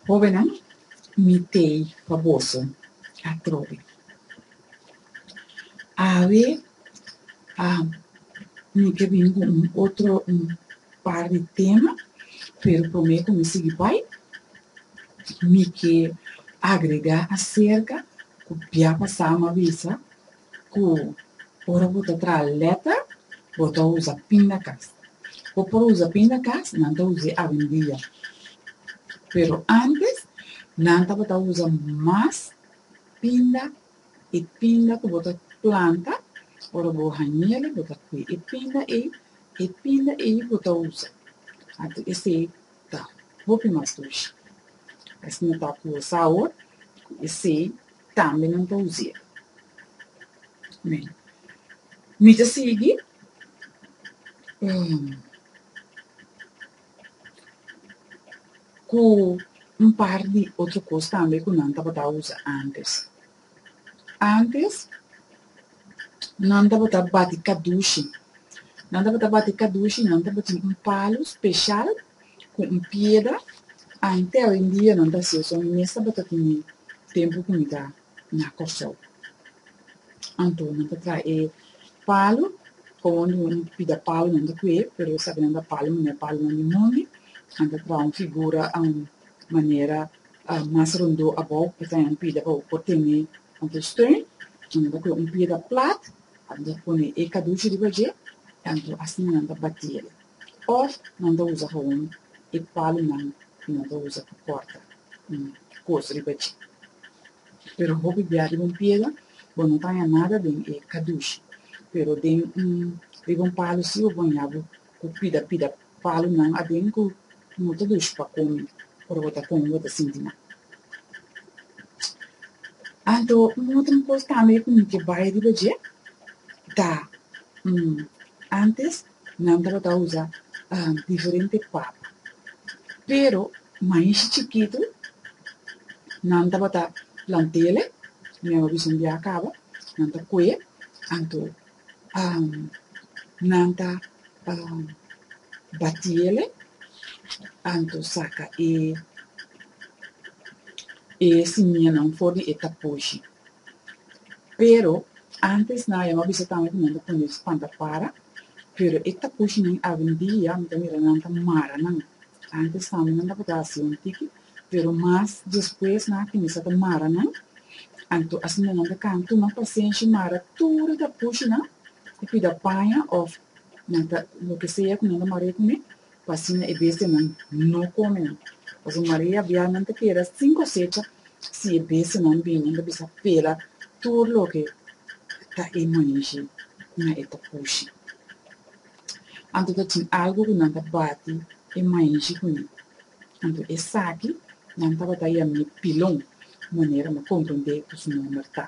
Hóbennan, mi t'ei pa boso atrobe. Awe mi ke bini ku un otro par di tema, pero promé ku mi sigui bai, mi ke agregá aserka ku bia pasá mi a bisa, ku ora bo ta traha lèta bo ta usa pindakas. Bo por usa pindakas, nan ta us'é awendia, pero ántes nan tabata usa mas pinda, e pinda ku bo ta planta, ora bo hañ'el bo ta kui e pinda ei, e pinda ei bo ta usa. Anto esei ta hopi mas dushi. Asina ta ku sa awor, ku esei Tambe nan ta us'er. Amen. Mi ta sigui. Um. Cu un par di otro cos tambe cu nan tabata usa antes. Antes. Nan tabata bati kadushi. Nan tabata bati kadushi nan tabatin un palu speshal ku un piedra ante awendia nan ta hasiu so mi mes tabata tene tempu ku mi ta na Kòrsou anto nan ta traha e palu kowon di un pida palu nan ta kue pero esaki nan ta palu manera palunan di mondi nan ta traha un figura manera Mas rondó abou e ta un pida pa bo por tene tantu steun, si no ta kue un pida plat, a nan ta pone e kadushi riba dje, tantu asina nan ta bati el, òf nan ta usa hawon e palunan ku nan ta usa pa kòrta un kos riba dje. Pero hopi bia riba un pida bo no ta haña nada den e kadushi, pero den un riba un palu si bo baña bo ku pida pida. Palu nan aden ku no ta dushi pa komi ora bo ta komi bo ta sinti mal. Anto un otro kos tambe ku mi ke bai riba dje ta antes nan tabata usa diferente papa pero maishi chikitu nan tabata plant'e meba bishon bia kaba nan ta kue anto nan ta batí el'e, anto saka e simianan for di e taposhi. Pero, ántes nan a yama bisa tambe ku nan ta pone spanta para, pero e taposhinan awendia mi ta mira nan ta mara nan. Ántes tambe nan tabata hasi un tiki, Pero mas despues nan a cuminsa ta mara nan. Anto a siña nan ta can tuma pasenshi mara tur e ta pushi nan y cuida paña of nan ta loke sea cu nan ta marea cume pa asina e bestianan no come nan. Pasobra marea bia nan ta keda sin cosecha si e bestianan bini nan ta bisa pela tur loke ta e manshi cu nan e ta pushi. Anto ta tin algu ku nan ta bati e mainshi ku mi. Anto esaki nan tabata yam'é Pilon, manera m'a komprendé ku su nòmber ta.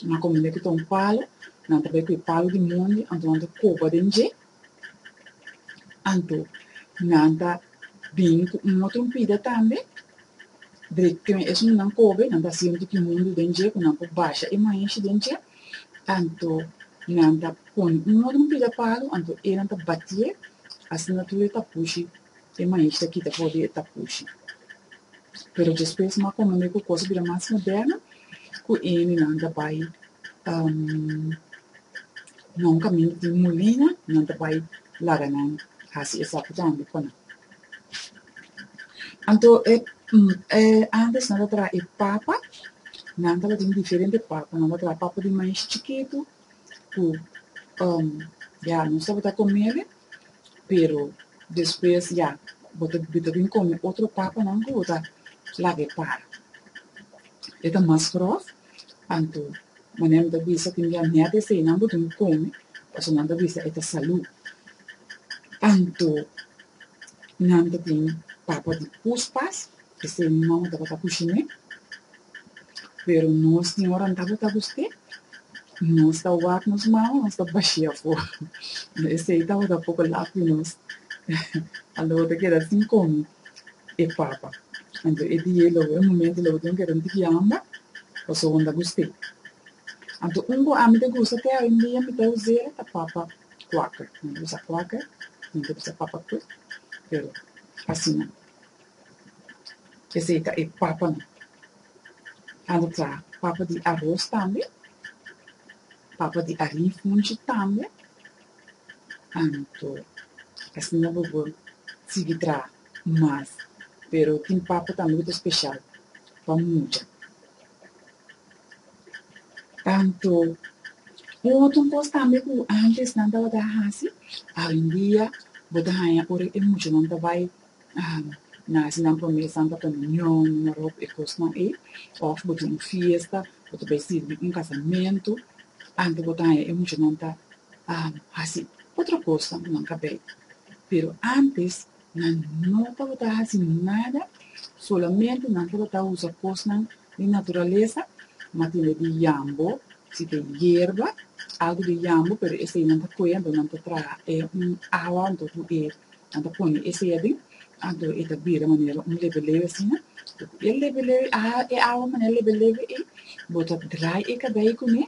M'a komprendé ku ta un palu, nan ta bai ku e palu di mondi, anto nan ta koba den dje. Anto nan ta bin ku un otro mpida tambe. Drekte me esun ku nan kobe, nan ta hasi un tiki mundu den dje ku nan por basha e mainshi den dje. anto nan ta pone un moda un pida palu anto eran ta batié asina tur e tapushi e maishi ta kita for di e tapushi pero despues mas komo e kos a bira mas moderno ku e hende nan ta bai na un kaminda tin mulina nan ta bai laga nan hasi esaki tambe pa nan. Anto e e antes nan ta traha e papa, nan tabatin diferente papa, nan ta traha papa di mais chikitu ku um ya nos tabata komele, pero despues ya bo ta bo ta bin kome otro papanan ku bo ta laga e para, e ta mas gròf. Anto, manera mi ta bisa tin dia miércoles esei nan bo dun come, pasobra nan ta bisa e ta salú. Anto nan ta tin papa di puspas, pesei mi mama tabata kushiné, pero nos tin ora nan tabata gust'é, nos ta wak nos mama, nos ta bashi afó, esei tabata poko lak di nos, a lo ta keda sin come. e papa. Anto e dia lo e momento lo bo tin keda un tiki yamba paso won ta guste. Anto un ku ami ta gusta te hoyendia mi ta us'e ta papa quaker. Mi ta bisa quaker, mi ta bisa papa quick pero asina. Esei ta e papanan. Anto ta papa di aros tambe, papa di arin funchi tambe. Anto esnan no bo por sigui traha mas, pero tin papa tambe ku ta speshal pa mucha. Anto, un otro kos tambe ku antes nan tabata hasi, hoy en dia bo ta haña ora e muchanan ta bai Nazinan por mes santa komunyon, i noròp e kosnan ei. Òf bo ta un fiesta, bo ta bai sirbi un kasamentu, antes bo ta haña e muchanan ta hasi otro kosa ku nan ka bai. Pero antes, nan no tabata hasi nada, solamente nan tabata usa kosnan di naturalesa, matinda di yambo, si ta e yerba, algu di yambo, pero esei nan ta kue, anto nan ta traha e un awa anto ku e Nan ta pone e sea den, anto e ta bira manera un lebelebe asina, y cu e lebelebe a haga e awa manera lebelebe ei, bo ta draai e cabei cune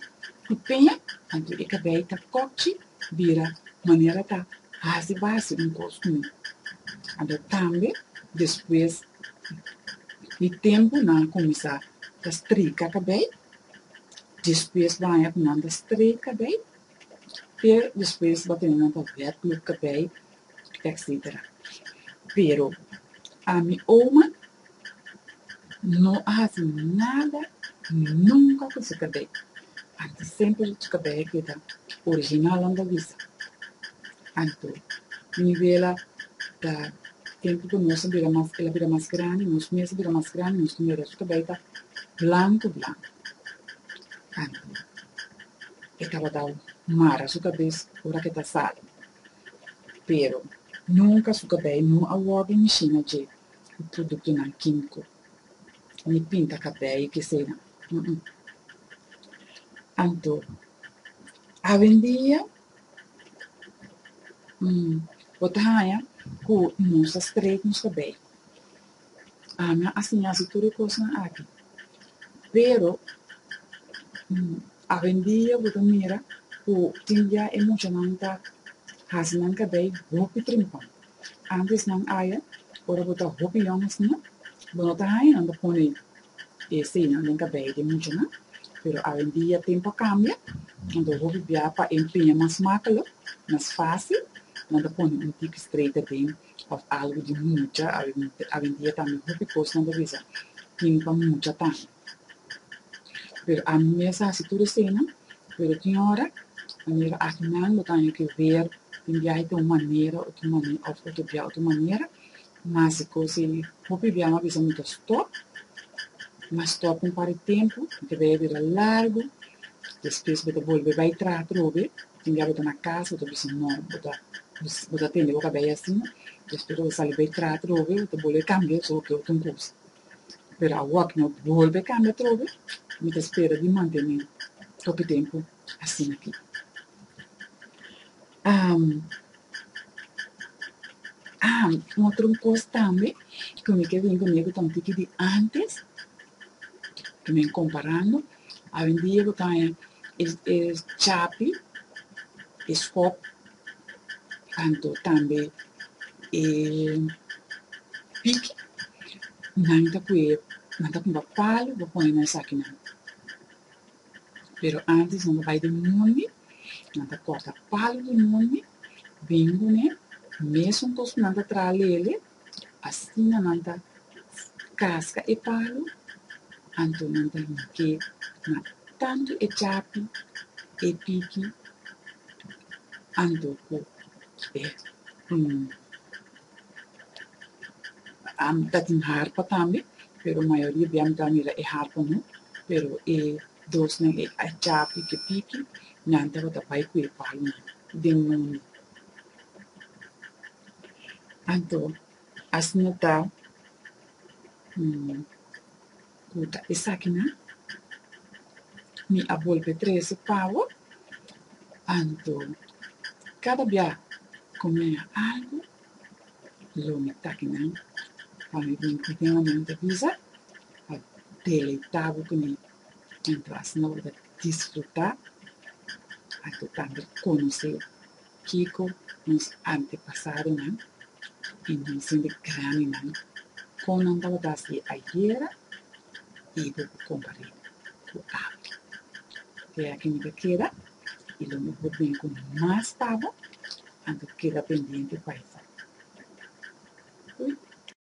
cu peña, anto e cabei ta cocci, bira manera ta haci baci un cos cune. Anto tambe despues di tempo nan a cuminsa ta streika cabei, despues baña cu nan ta streik cabei, Pero despues bo a tene nan ta wèt lo kabei etsetera. Pero a mi oma no a hasi nada nunka ku su kabei. Anto semper su kabei a keda original nan ta bisa. Anto mi wela ta tempu ku nos a bira mas el a bira mas grandi nos mes a bira mas grandi nos mira su kabei ta blanku blanku. Anto. e tabata mara su kabes ora ke ta sali. Pero, nunka su kabei no a wòrdu mishina dje ku produktonan kímiko, ni pinta kabei i kesenan, uh-uh. Anto, awendia, mm, bo ta haña ku nos ta strek nos kabei. Ana a siña su tur e kosnan aki, pero awendia bo ta mira ku tin ya e muchanan ta hasi nan kabei hopi trimpau. Antes nan aya, ora bo ta hopi yòn asina, bo no ta haña nan ta pone e seinan den kabei di e muchanan, pero awendia tempu a kambia, anto hopi bia pa empeña mas makelo, mas fásil, nan ta pone un tipi streita den. of algu di mucha awendia tambe hopi cosnan ta bisa tin pa mucha tambe pero ami mes a hasi tur esena pero tin ora mi mira aki nan lo taña ke wer tin biaha ta un manera of ta bia otro manera mas e cos ei hopi biaha mi a bisa mi ta stop mi a stop un par di tempo mi ta bira largu despues mi ta bolbe bai traha atrobe Tin dia bo ta na cas, bo ta bisa no, bo ta bo ta tende bo cabello así, despues bo sali bay traha atrobe, bo ta bolbe cambia so bo ke otro un cosa. Pero awoa cu mi a bolbe cambia atrobe, mi ta spera di mantene hopi tempo asina aki. Am am un otro cos tambe cu mi ke bin cune cu ta un tiki di antes, cu mi a comparando. Awendia bo ta haña e e chapi, e skòp, anto tambe e piki. Nan ta kue, nan ta kumba palu, bo pone na esakinan. Pero ántes nan ta bai den mundi, nan ta kòrta palu den mundi, bingu ne, mesun kos ku nan ta traha lele, Asina nan ta kaska e palu, anto nan ta hige na tantu e chapi, e piki, anto ku e ta tin harpa tambe, pero mayoria di bai ta mira e harpa no, pero e dosnan, e chapi ku e piki, nan tabata bai ku e palunan den mundi. Anto as nota ku ta esaki nan, mi a bolbe trese pa bo. Anto kada bia ku mi a algu, lo mi taki nan pa mi bin ku Dios, mi ta bisa pa deleita bo ku mi. Tin plas no lo disfrutá, anto tambe konosé kiko nos antepasadonan i nosende grandinan, kon nan tabata hasi ayera i bo por kompar'é ku abri. Te aki mi ta keda i lo mihó ta bini ku mas pa bo, anto keda pendiente pa esaki. Ui.